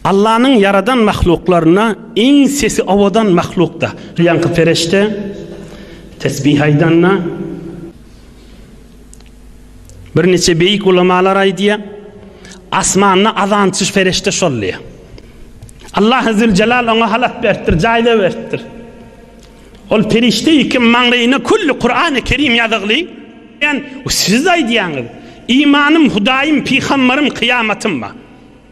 Allanyň ýaradan mahluklarynda iň sesi owadan mahlukda. Ýaňky perişde tesbih aýdanda, birniçe beýik ulamalar aýdýar, Asmanda azançy perişde şol diýýär. Allahy züljelal oňa halat beripdir, jaýda beripdir. Ol perişde iki maňlaýyna külli Kurany Kerim ýazygly. Siz aýdýaňyz, Imanym, Hudaýym, Pygamberym, Kyýamatym bar.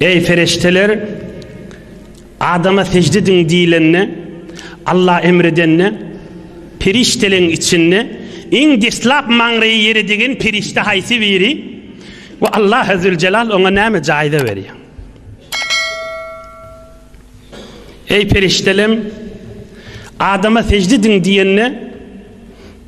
Eý perişdeler, Adama sejde ediň diýlende, Allah emr edende, perişdeleň içinde iň deslap maňraýy ýere degen perişde haýsy biri we Allah Azzüljelal oňa näme jaýza berýär? Eý perişdelem, Adama sejde ediň diýende,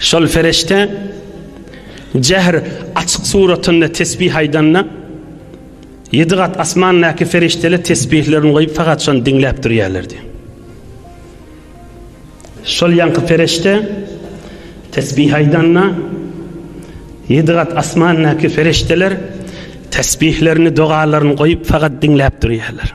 Şol perişde jähr açyk suratynda tesbih aýdanda, ýedi gat asmandaky perişdeler tesbihlerini goýup fakat şony diňläp durýarlardy. Şol ýaňky perişde tesbih aýdanda, ýedi gat asmandaky perişdeler tesbihlerini, dogalaryny goýup fakat diňläp durýarlar.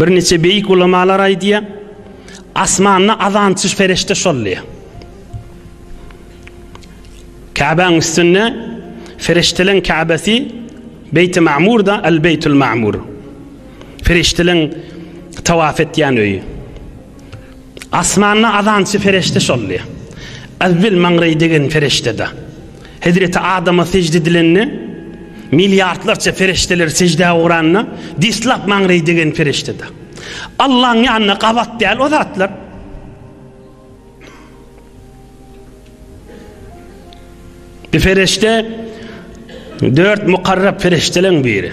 Bir niçe beýik ulamalar aýdýar, asmanda azançy perişde şol diýýär. Käbäň üstünde Ferişteleň Käbesi Beýti Ma'murda El Beýtul Ma'mur. Ferişteleň tawaf etýän öýi. Asmanda azançy ferişde şol diýýär. Azbil Mangreý degen ferişdede. Hezreti Adama sežde edilende, milliardlarça perişdeler seždä ugranda, deslap maňreý degen perişdede. Allaň ýanyna gabat däl o zatlar. Bir perişde, dört mukarrab perişdeleň biri.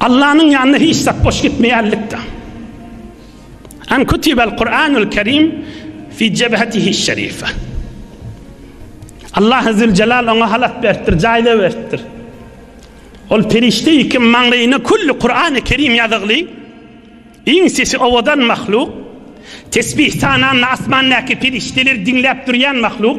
Allanyň ýanyna hiç zat boş gitmeýärlikde. An kutibel Kur'anul Kerim fi cebhetihi şerife. Allah Azze Celal ona halat beripdir, jaýla beripdir. Ol perişte iki maňlaýyna kulli Kur'an-ı Kerim ýazygly, iň sesi owadan mahluk, tesbih sananyny asmandaky perişdeler diňläp durýan mahluk.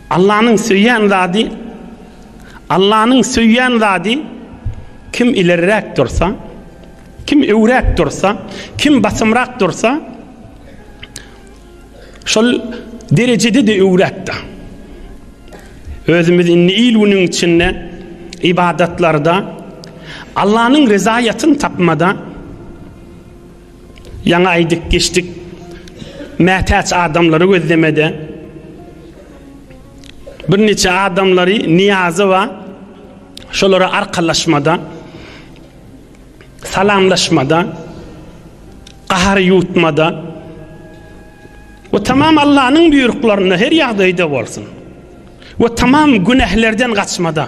Allanyň söýýän zady Allanyň söýýän zady Kim ilerräk dursa, kim öwräk dursa, kim basymrak dursa, şol derejede-de öwräkde. Özümiz indi il günüň içinde ybadatlarda Allanyň rezaýatyny tapmada, Ýaňy aýdyp geçdik. Mätäç adamlary gözlemede birnäçe adamlary Niýazowa şolara arkalaşmada salamlaşmada gahar ýutmada we tamam Allanyň buýruklarynda her ýagdaýda bolsun we tamam günählerden gaçmada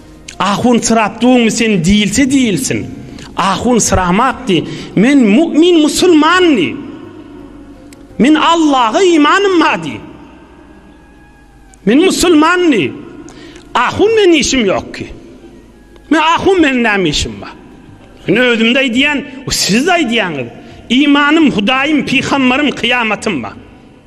Ahun syrapdygyňmy sen diýilse diýilsin. Ahun syramakdy. Men mu'min musulmandy. Men Allaha imanym bardy. Men musulmandy. Ahun men işim ýokdy. Men ahun men näme işim bar? Men özümde aýdýan, siz aýdýaňyz. Imanym, Hudaýym, pygamberym, kyýamatym bar.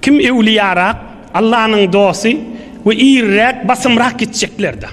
Kim öwliýarak, Allanyň dosty we iriräk, basymrak gitjeklerdir.